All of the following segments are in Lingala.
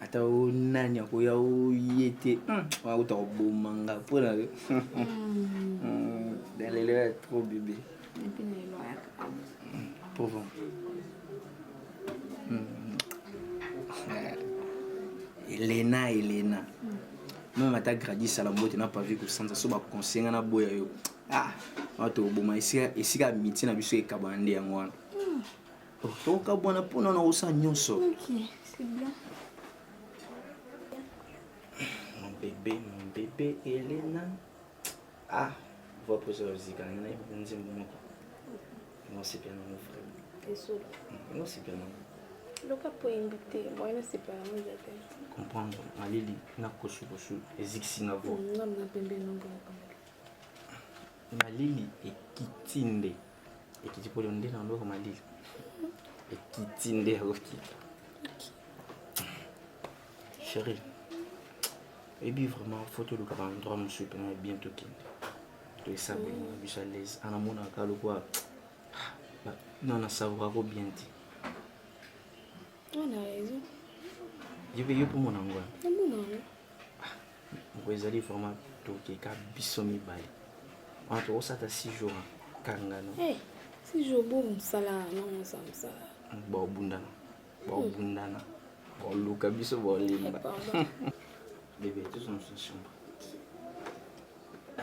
ata o nani akoya oye te akuta koboma nga mpo na yo na lelo ya trop bebe pauvre elena elena meme ata gradi sala mbote na pavi kosanza so baconseille nga naboya yo ah wana tokoboma esika amitié na biso ekabana nde yango wana tokabwana mpo na naosa nyonso mon bébé mon bébé elena ah voix posa ozika na ye nzembo moko nasepela nango vraiment nasepela nango loka mpo oyembi te moyen nasepela nango eza te comprendre malili na kosukosu ezikisi nga vo mm, malili ekiti nde ekiti pole nde na ndoko malili ekiti nde akokita chéri ebi vraiment fo toluka baendroit mosusu mpe na bien tokende toesabeli na biso alaise ana monaka lokola nana savourako bien te yo mpe yo mpo mona ngo Mpo ezali vraiment tokeka biso mibale. Wana tokosata 6 jours hein. kanga no. Eh, 6 jours bo mosala na mosala mosala. Bo bundana. Bo hmm. bundana. Bo luka biso bo limba. Eh, Bébé, tous dans une chambre. Ah.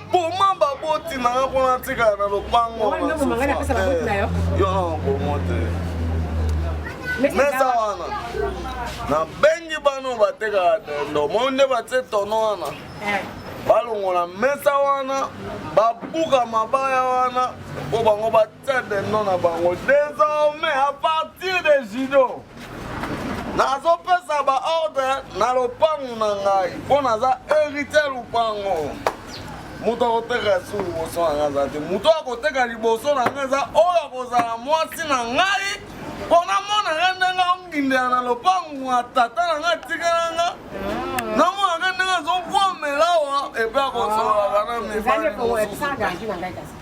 boma baboti na nga mpona atikala na lopango yo na bomo te mesa wana nabengi bano batekaka tendo moi nde batie tono wana eh. balongola mesa wana babuka mabaya wana mpo bango C'est des noms na bango. Désormais, à partir de judo, nazopesa ba ordre na lopango na ngai mpo naza hérité lopango moto akoteka su liboso na ngai aza te moto akoteka liboso na ngai eza oyo akozala mwasi na ngai mpo namona ngai ndenge ongindela na lopango ya tata na ngai atikela ngai namona ngai ndenge azovomelawa epe akosolaka na mibali mosusu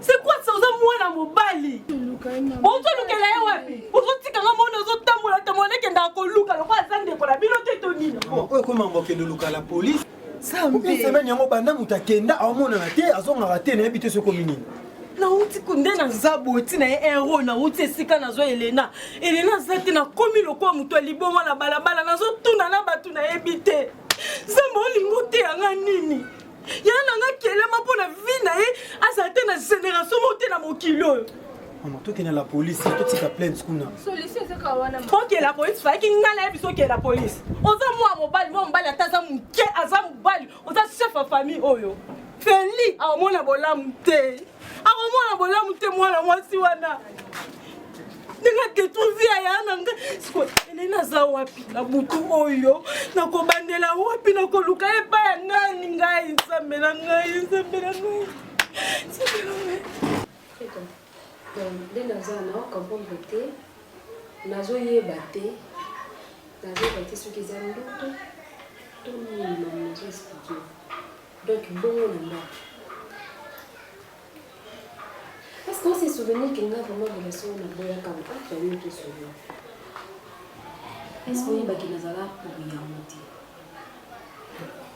C'est quoi ça oza mwana mobali ozolukela ye wapi ozotika nga mona ozotambola tambola nekendaka koluka lokola aza ndeko na bino te to nini oyo ekoma mbokende luka la polise semaine yango banda moto akenda aomonana te azongaka te nayebi te soki omi nini nauti nde naza boti na ye hero nauti esika nazwa elena elena aza te nakomi lokola moto ya liboma na balabala nazotuna na bato nayebi te nzambe olingi oteyanga nini yaya na nga kelama mpo na vi na ye azala te na generation moko te na mokili oyo mama tokende na polisi totika plainte kuna okela polisi fayaki ngai nayebi so okela polisi oza mwa mobali mwa mobali ata aza moke aza mobali oza chef ya famille oyo feli aomona bolamu te akomona bolamu te mwana mwasi wana ndenge adetruire vie ya yaya na ngai sikoyo ele naza wapi na butu oyo nakobandela wapi nakoluka epai ya nani ngai nzambe na ngai nzambe na ngai nzambe na ngai nde naza na comprendre te nazoyeba te nazoyeba te soki eza ndoto to nini na mazo explike Donc bongo na nga. Parce que on se souvenir que nga vraiment relation na boya kama ah tu as eu tout souvenir. Est-ce que oui baki nazala pour ya moti.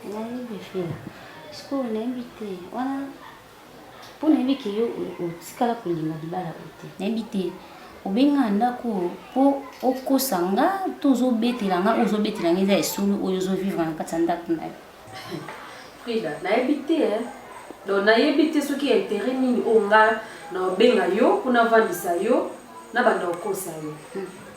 Nani bifela. Est-ce que on invite wana mpo nayebi ke yo otikala kolinga libala oyo te nayebi te obenga ndako oyo mpo okosa nga to ozobetela nga oyo ozobetela nga eza esolo oyo ozovivre na kati ya ndako na yo Frida, nayebi te hein. Donc nayebi te soki ya intérêt nini oyo nga na obenga yo mpo navandisa yo na banda okosa yo.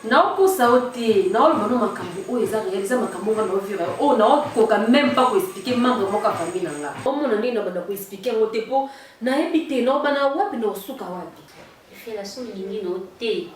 naokosa yo te naoloba no makambo oyo eza réel eza makambo nga naovira yo oyo naokoka même pas koexplike membre moko ya famille na nga omona ndenge na banda koexplike yango te mpo nayebi te naobana wapi na osuka wapi Fela soki olingi na yo te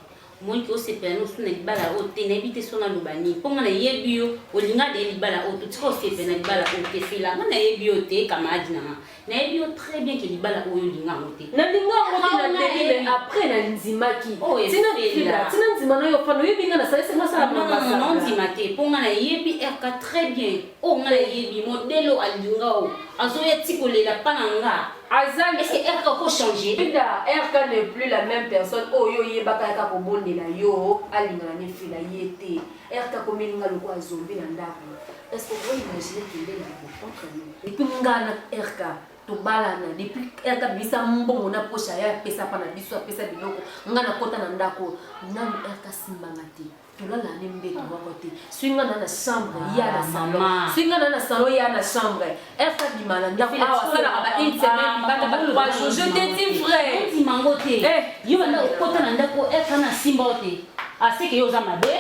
omoni ke osepela na osu na libala oyo te nayebi te so naloba nini mpo nga nayebi yo olinga de libala oyo to tika osepela na libala oyo te fela nga nayebi yo te kamaradi na nga nayebi yo très bien ke libala oyo olinga yango te nalinga yango te na ndenge me après na ndimaki tina fela tina ndima na yo fana oyebi nga nasalisi nga sala mabasa ondima te mpo nga nayebi rk très bien oyo nga nayebi modele oyo alinga oyo azoya ti kolela mpa na nga aza est-ce que RK ko changer Linda RK n'est plus la même personne oyo oh, oyebaka yaka kobondela yo alingana ne fila ye te RK komelinga lokola zombi na ndako est-ce que okoki imaginer kende na contre nous et puis nga na RK tobalana depuis RK bisa mbongo na poche ya pesa pa na biso apesa biloko nga na kota na ndako nanu RK simbanga te tolala ne mbeto moko te soki nga na na chambre ya na ah, salon soki nga na na salon ya na chambre erte abima na ndako awa asalaka ba une semaine bata ba trois jours je te dis vrai ondima ngo te eh. yo banda okota na ndako erte na simba yo te aseke ah, yo oza mabe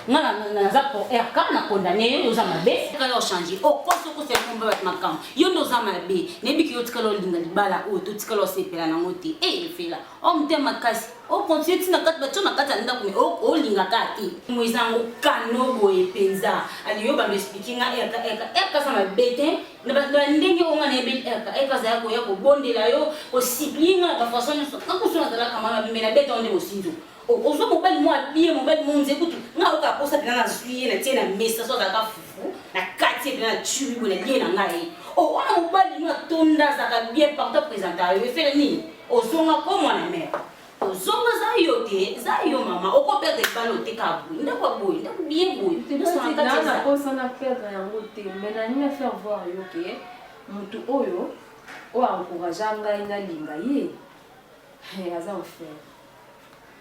nga naza pour rk na condamne yo nde oza mabe tikala ochange okosi okosi ya komba bato makambo yo nde oza mabe nayebiki yo tikala olinga libala oyo to tikala osepela nango te e eh, efela o motema makasi o continue ti na kati batyo na kati ya ndako me olinga kaka te mo eza yango kano boye mpenza aliyo bando esplike nga erka erka erka aza mabe te na bandenge oyo nga nayebi erka erka azala koya kobondela yo kosiplie nga na bafason nyonso kakusu nazalaka mama bimbe na beta onde mosinzo ozwa mobali mwa abie mobali monze kutu nga oyoka aposa mpena nazwi ye na tie na mesa so azalaka fufu na kati ye mpena na turi boye na lie na ngai o wana mobali mwa atonda azalaka bien partout apresenta yo efele nini Ozonga ko mwana mère. Ozonga za yo te, za yo mama. Oko perdre libala oteka boye. Ndako ya boye, ndako bien boye. Nyonso na kati Nana eza. posa na perdre yango te mais nalingi na faire voir yo ke mutu oyo oyo encouragea ngai nalinga ye he, aza enfer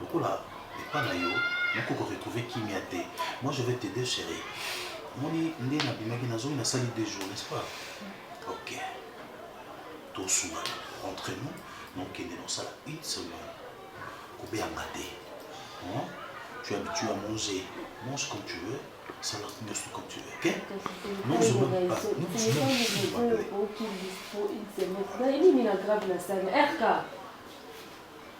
lokola epa na yo nako ko retrouver kimia te moi je vais t'aider chérie omoni nde na bimaki na zoyi na sali deux jours n'est-ce pas ok to sungana entre nous na okende na osala une semaine ko beyanga te hein? tu habitues à manger mange comme tu veux sala nyonso comme tu veux ok nozoma nozoma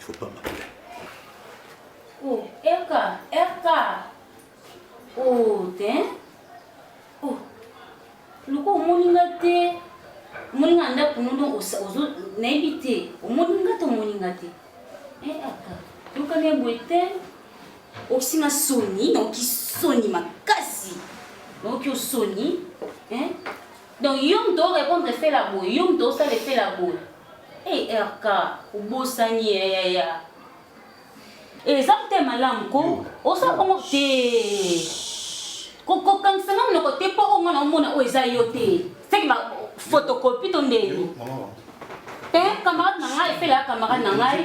faut pas m'appeler oh erka erka oh te oh luka omoni nga te omoni nga ndako nono ozo nayebi te omoni nga te omoni nga te eh erka luka ne boye te okisi nga soni naoki soni makasi naoki osoni eh Donc yo moto o repondre fela boye, yo moto osale fela boye. Hey eh, RK, obosani ya ya ya. Eza mpe malamu ko osa bongo te. Kokokangisa nga monoko te mpo oyo mwana omona oyo eza yo te. Seki ba photocopie to ndeni. Eh, camarade na ngai efela ya camarade na ngai.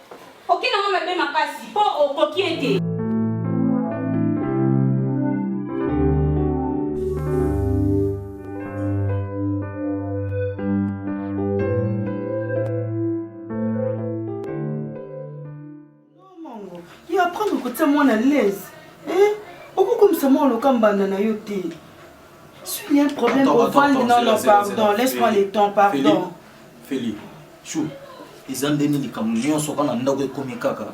Oke nango mabe makasi po okoki ye te. Yo apprendre kotia mwana à l'aise. Eh? Okokomisa mwana loka mbanda na yo te. S'il y a un problème, on va non non pardon, laisse-moi le temps pardon. Feli, chou. Eza ndeni likambo nyonso kaka na ndako ekomi kaka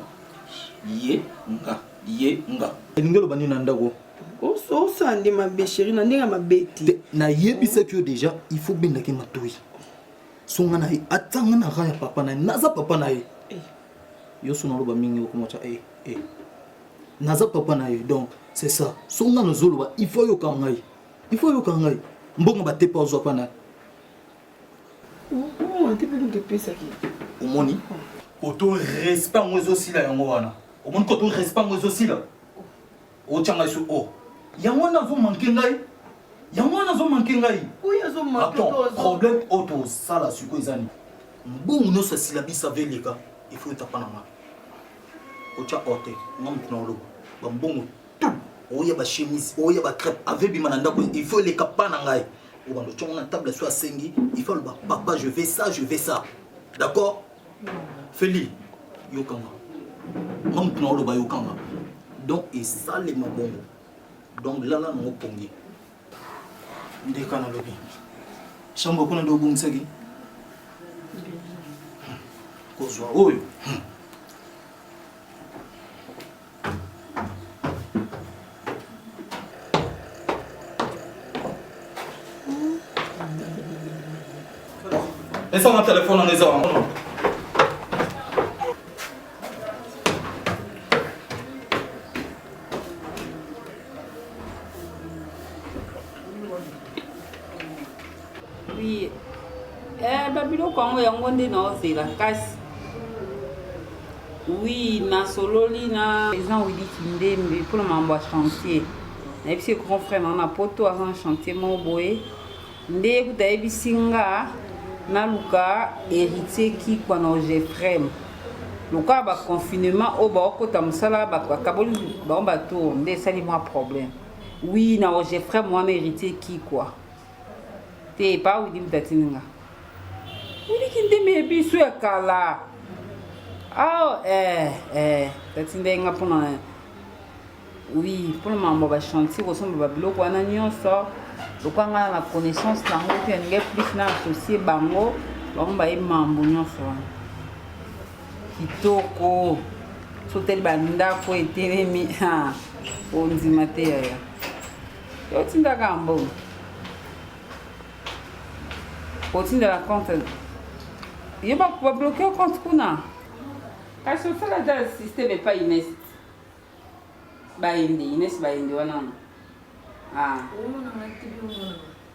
ye nga ye nga. Elingi oloba nini na ndako? osande mabe sheri na ndenge ya mabe te nayebisaki yo deja il faut bendaki matoi songa na ye atanga na ra ya papa na ye naza papa na ye eh. yo suna oloba mingi okoma tya e e naza papa na ye donc c'est ça so nga nazoloba il faut yoka ngai il faut yoka ngai mbongo batepa ozwa mpa na omoni koto respect yango ezosila yango wana omoni koto respect yango ezosila Otia ngai sur O. Yango wana azo manquer ngai. Yango wana azo manquer ngai. Oui, azo manquer toi. Attends, problème auto sala siko ezani. Mbongo nyonso ya syllabus ave eleka, il faut etapa na ngai. Otia O te, nga moto na oloba. Ba mbongo tout, oya ba chemise, oya ba crêpe, ave bima na ndako, il faut eleka pa na ngai. Obanda otia na table so asengi, il faut aloba papa je vais ça, je vais ça. D'accord? feli yokanga nga motu na oloba yokanga donc esalema bongo donc lala nango pongi ndeka nalobi chambre kuna nde obongisaki kozwa oyo Esa na telefone na eza wango. Oui. Eh, ba biloko yango yango nde naozela kasi oui nasololi na président widi kindembe mpona makambo ya chantier nayebisi ye grand frère nanga na poto aza na chantier moko boye nde ye kuta ayebisi nga naluka héritier kikwa na ogefrem lokola baconfinement oyo baokota mosala bakaboli bango batour nde esali mwa problème oui na ogefrem wana héritier kikwa te pa widi mutatini nga widi kindeme ya biso ya kala ao oh, eh, eh, tatindai nga mpona oui mpona mambo ya bachantier kosomba babiloko wana nyonso lokola nga na connaissance nango te nalingai plus na associe bango bango baye mambo nyonso wana kitoko soteli bandako etelemi ondima te yaya otindaka ya mbongo otindela compte ye babloke compte kuna kasi osala ata systeme epai ines bayende ines bayende wana ah.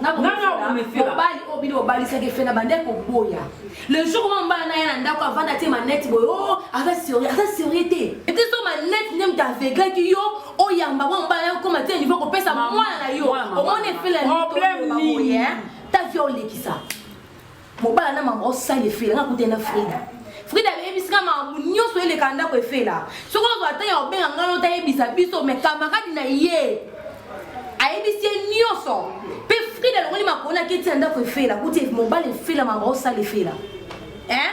mobali oyo bino bobalisaki efe na bande koboya le jour ma mobali na ye na ndako avanda te manete boye o oh, aza serie aza serie te ete so manete nde moto aveglaki yo oyamba mwa mobali nayo okoma te niveau kopesa mwana na yo omoni efele nini ta vie olekisa Mobala na mama osala efela nga kutana Frida. Frida ayebisi nga makambo nyonso eleka ndako efela. Soki ozwa ata ya obenga nga no tayebisa biso me kamaradi na ye ayebisi ye nyonso. Pe Frida alongoli makolo na keti ya ndako efela kuti mobala efela mama osala efela. Hein?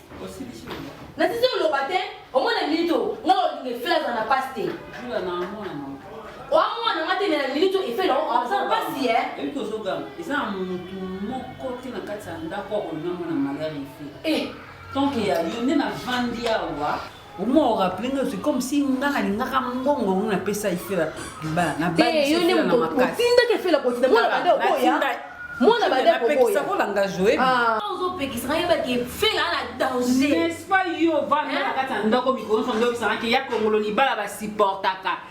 nasisi oloba te omona minute oyo nga olinga efela aza na pasi te oamona nga te me na minute oyo efela aza na pasi e ebi tozoganga eza na motu moko te na kati ya ndako akolinga mwana malari efe eh. tonke ya yo nde na vandi awa Omo o rappeler nga c'est comme si nga na lingaka mbongo ngo na pesa ifela libala na ba te yo nde motinda ke fela kotinda mwana bande okoya mwana bande okoya kolanga joe ah. ozopekisa nga yeba ke fela na danger n'est-ce pas yo vanda na kati ya ndako mikolo nyonso nde oyebisanga ke ya kongolo libala basupportaka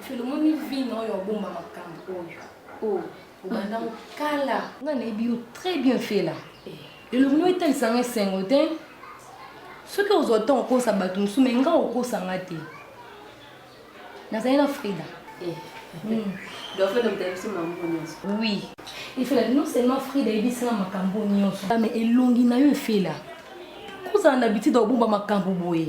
Filomoni vino oyo obomba makambo oyo oh. obanda mokala nga nayebi yo très bien fela eh. elongi no etalisa nga esengo te soki ozwa ntango okosa bato mosusu mai nga okosa nga te nazali na frida eh. hmm. oui efela non seulement frida ayebisi nga makambo nyonso ah, mais elongi na yo efela kozala na bitida obomba makambo boye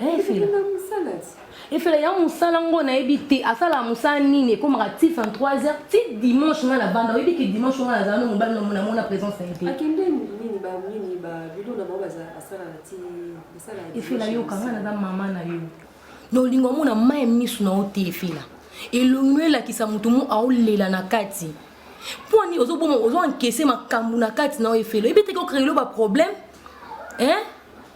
Eh, efela efela ya mosala ngo nayebi te asalaka mosala nini ekomaka ti 23 heures ti dimanche ngai nabanda oyebi ke dimanche ngai nazala no mobali namona présence na ye te efela yoka ngai naza mama na yo na olingo omona mai miso na yo te efela elongi oyo elakisa moto mo aolela na kati mpo nini ozoboma ozoankese makambo na kati na yo efela oyebi te kokreyelo baproblème hein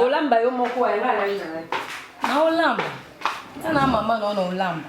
olamba yo moko na olamba na mama naona olamba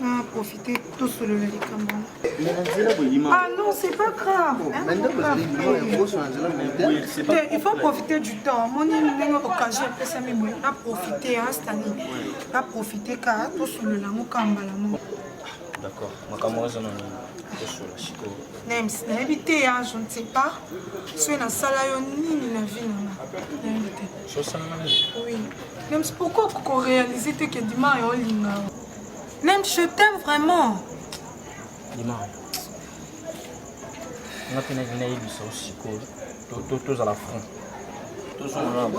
na profite tosolola likambo ah non c'est pas grave il faut profiter du temps moni ndenge occasion epesami boye na profite astani na profite ka tosolola yango ka mbala moko d'accord makambo ozo na nini tosolola sikoyo nems nayebi te ya je ne sais pas soki nasala yo nini na vie nanga nayebi te sosalanga nini oui Nems pourquoi koko réaliser te que Dima yo linga Nems je t'aime vraiment Dima nga mpe nalingi nayebisa yo sikoyo tozala franc tozongana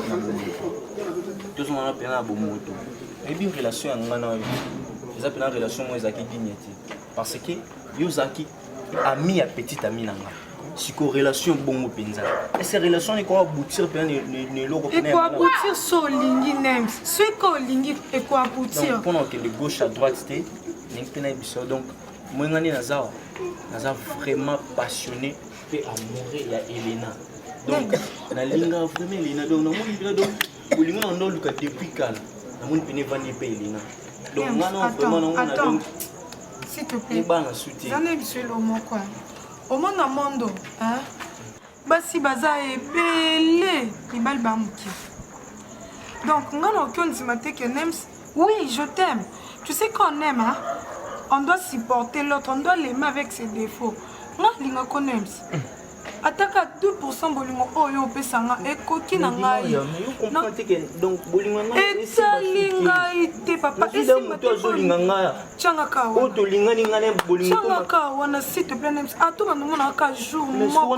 tozongana mpena na bomoto oyebi relation ya nga na yo eza mpena relation moko ezalaki digne te parce que yo ozalaki ami ya petit ami na nga siko relation bongo mpenza ese relation eko aboutir mpenza na eloko eko aboutir so olingi nem soki olingi eko aboutir mpona okende gauche à droite te ndenge mpe nayebi biso donc moyenga nde naza wa naza vraiment passionné mpe amoureux ya elena donc nalinga vraiment elena donc namoni mpena donc bolingo na ndo luka depuis kala namoni pene evandi epe elina donc nga na vraiment nango na donc s'il te plaît bana soutien zana biso elomo quoi omona mondo hein basi baza ebele mibali ba moke donc nga na oki ondima te que nems oui je t'aime tu sais quand on aime hein? on doit supporter l'autre on doit l'aimer avec ses défauts nga lingako nems mm. ataka 2% bolingo oyo opesa nga ekoki na ngai etali ngai te papa esimbatiangaka wana site planems ato bandomonaka jour moko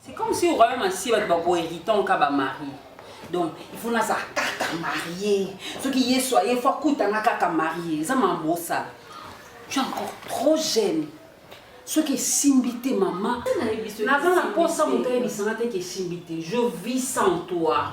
C'est comme si au royaume ainsi bato bako héritant ka ba marie donc il faut naza kaka marie soki yesu aye fo akutanga kaka marie eza mambo osala tu es encore trop jeune soki esimbi te mama naza na mposa moto ayebisanga te ke esimbi te je vis sans toi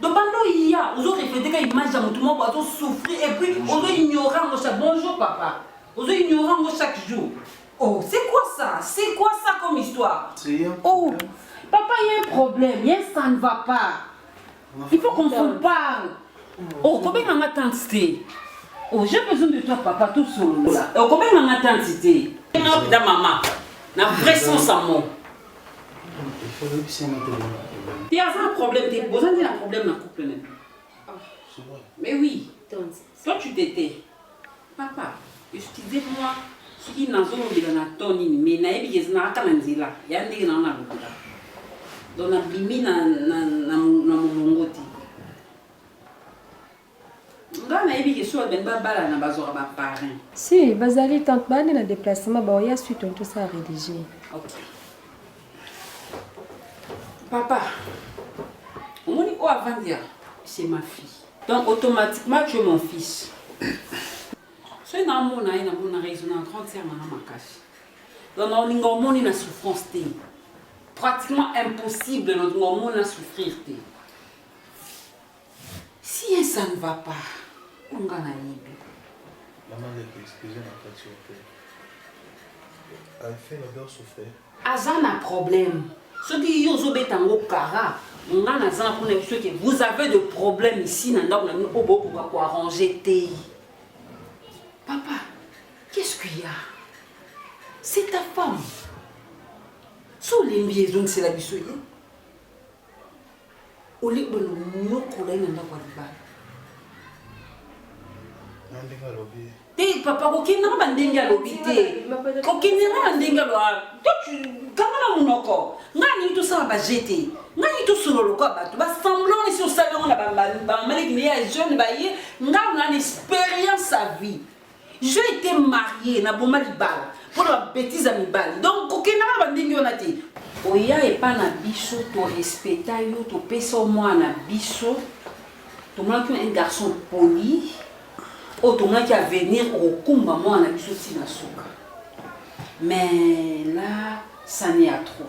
Donc banda oya ozo reflete ka image ya motu moko azo souffrir et puis ozo ignore yango chaque bonjour papa ozo ignore yango chaque jour oh c'est quoi ça c'est quoi ça comme histoire oh papa il y a un problème y a ça ne va pas il faut qu'on se parle oh kobenga nga tante te oh j'ai besoin de toi papa tout solola oh kobenga nga tante te na mama na vrai sens ya mot te aza na problème te boza nde na problème na couple nani mais oui toi tu t'étais papa excusez moi soki nazolobela na to nini mais nayebi ke ezalaka na nzela ya ndenge nao nalobela donc nabimi na molongo te Nga nayebi ke soki balingi babalana bazwaka ba parrain. Si, bazali tante bande na deplacement baoya suite on tout ça rédigé. Okay. Papa, omoni oyo avandi ya c'est ma fille. Donc automatiquement tu es mon fils. soki namona ye namona raison na grande sœur nanga makasi. Donc naolinga omoni na souffrance te. Pratiquement impossible naolinga omoni na souffrir te. Sien ça ne va pas. Oyo nga na yebi. Maman leki excuse na kati yo pe. Elle fait le beurre souffler. Aza na problème. Soki yo ozo beta ngo kara, nga na zana kuna biso que vous avez de problème ici na ndako na bino oyo bokoka ko arranger te. Papa, qu'est-ce qu'il y a? C'est ta femme. So olembi ezongisela biso ye. Olie bana nyokola ye na ndako ya libala. Na ndenge alobi. Te papa kokende na bandenge alobi te. Kokende na bandenge alobi. Toi tu kanga na munoko. Nga ni to sala ba jete. Nga ni to solo lokwa bato. Ba semblant ni si osala ngo na ba ba maliki ni ya jeune ba ye. Nga na experience à vie. Je ete marie na boma libala mpo na babetize ya mibali donc kokendaka na bandenge wana te oya epa na biso torespeta yo topesa yo mwana na biso tomonaki yo un garçon poli oyo tomonaki avenir okokumba mwana na biso ntina suka mais là ça ne ya trop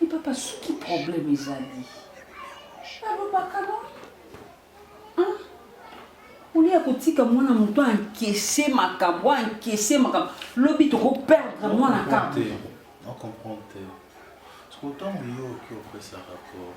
Mais papa, ce qui problème ezali alobaka no hein? olie ya kotika mwana moto ankese makambo ankese makambo lobi tokoperdre mwana kaka comprendre te soko ntango yo oki opesa rapport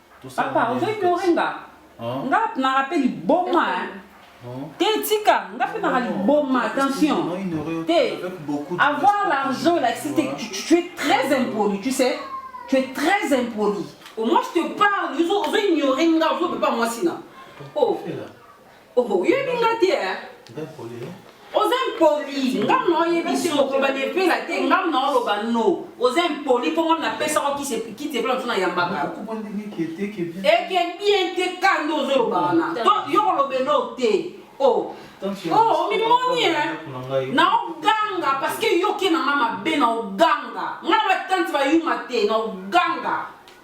Papa, ozo ignore nga. Nga na rappel liboma. Te tika, nga pe na liboma, attention. Te avoir l'argent là, c'est que tu, tu es très impoli, tu sais. Tu es très impoli. Au moins je te parle, ozo ozo ignore nga, ozo pepa mwasi na. Oh. Oh, oyebi nga te eh? oza impoli ngai na oyebisi mokoloba na epela te ngai na oloba no oza impoli mpo ngai napesaka kisi epela mosu nayambaka eke bien te ka nde ozoloba wana to yo koloba elo te o oh. oh, omimoni eh? na oganga parceke yoke na ngai mabe na oganga ngai na batante bayuma te na oganga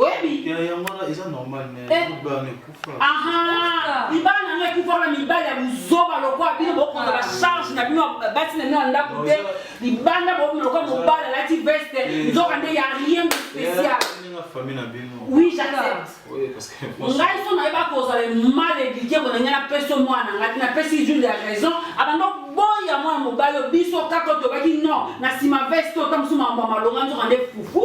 oyebi ya yango wana eza normal mais Eh. libala na ekufa aha libala na ngai ekufa na mibali ya buzoba lokola bino bokonza ba charge na bino ya basi na bino ya ndako te libanda bokomi lokola mobali alati veste Eh. nzoka nde ya rien de spécial ninga famille na bino oui j'accepte oye parce que ngai so nayeba kozala mal éduqué bona ngai napesi yo mwana ngai te napesi jules ya raison abanda boya mwana mobali oyo biso kaka oyo tobaki non na nsima veste oyo ta mosusu makambo ya malonga nzoka nde fufu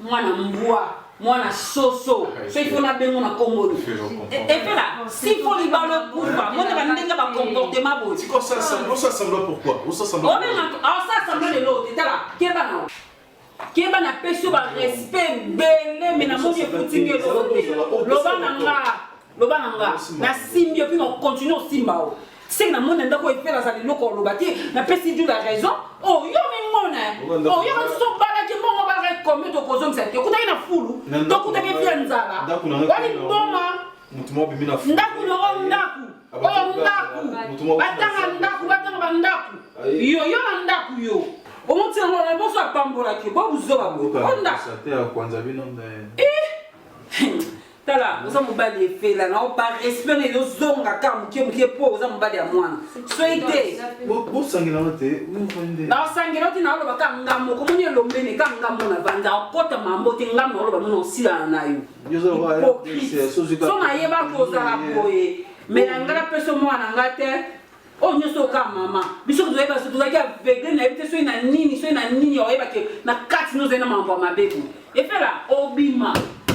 mwana mbwa mwana soso ah, soki mpo nabengo na nkombo ni epela si mpo libala okufa mona bandenge bacomportement boye osasambla lelo te tala keba na keba na pesi yo barespect ebele me namoni efutingi eloko te loba na nga loba na nga nasimbi opi continue osimba o seke na mona ndako epe nazala eloko oloba te napesi du la raison oyo oh, mimona oyo oh, mosusu obalaki mbongo obalaka ekomi tokozongisa te okutaki na fulu tokutaki epi ya nzala wani mboma ndako nongo ndako oyo ndako batanga ndako batanga bandako yo yo na ndako yo omotina ngo na boso apambolaki bo buzoba bo onda tala oza mobali efela na par respect nayo zonga ka moke moke mpo oza mobali ya mwana soki te bosangelana te naosangela te naoloba ka ngambo okomoni elombene ka ngambo na vanda okota mambo te ngambo naoloba mona osilana na yo hypocrite so nayeba kozala boye me na ngai napesa mwana na ngai te oyo nyonso oka mama biso tozoyeba so tozalaki aveugle na yebi te soki na nini soki na nini oyeba ke na kati no ozali na makambo ya mabe boye efela obima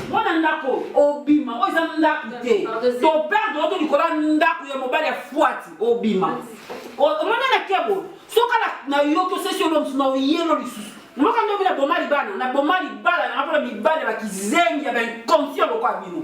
mwana ndako obima oyo eza ndako te toperde oto likolo ya ndako ya mobali ya fwati obima omona na kebo soka na yoki osesi olo mosusu na oyelo lisusu moka ndoki na boma libala na boma libala nanga mpona mibali ya bakizengi ya bainconscient lokola bino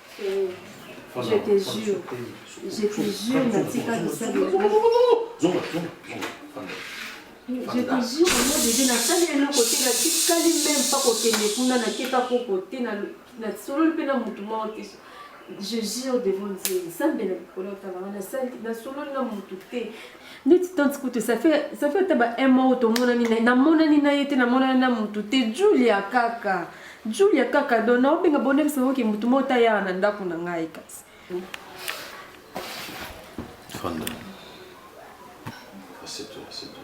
Je te jure, je te jure, natika kosala. Je te jure, moi bébé, nasali eloko te, natikali meme pas kokende kuna, nakeka koko te, nasololi mpe na motu moko te. Je jure devant Dieu, Nzambe na likolo atalanga, nasololi na motu te, ndeti tante kutu ça fait ça fait ata ba un mois oyo tomonani na ye namonani na ye te namonani na motu te julia kaka julia kaka don naobenga bonekisa oke motu moko ta yaka na ndako na ngai kasi Fanda. Assieds-toi, assieds-toi.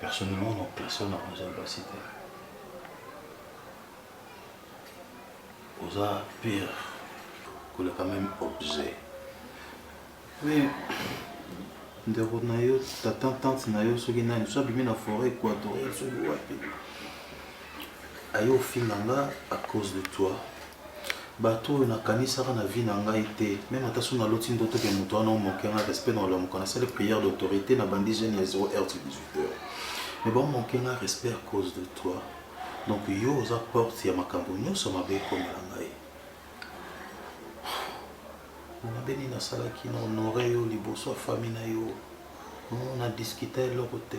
Personnellement, non, personne n'a mangé le basi te. Oza pire que le quand même objet. Mais ndeko na yo tata tante na yo soki nani so abimi na forêt équatoriale soki wapi aye ofinga nga à cause de toi Batu oyo na kanisaka na vie na ngai te meme ata soki na loti ndoto ke mutu wana o manquer nga respect nao lamuka na sali prière d'autorite na bandi jeune ya 0 heure ti 18 heure mais bao manquer nga respect à cause de toi donc yo oza porte ya makambu nioso mabe ekomela ngai mabe nini nasalaki na honore yo liboso ya famille nayo na discuta eloko te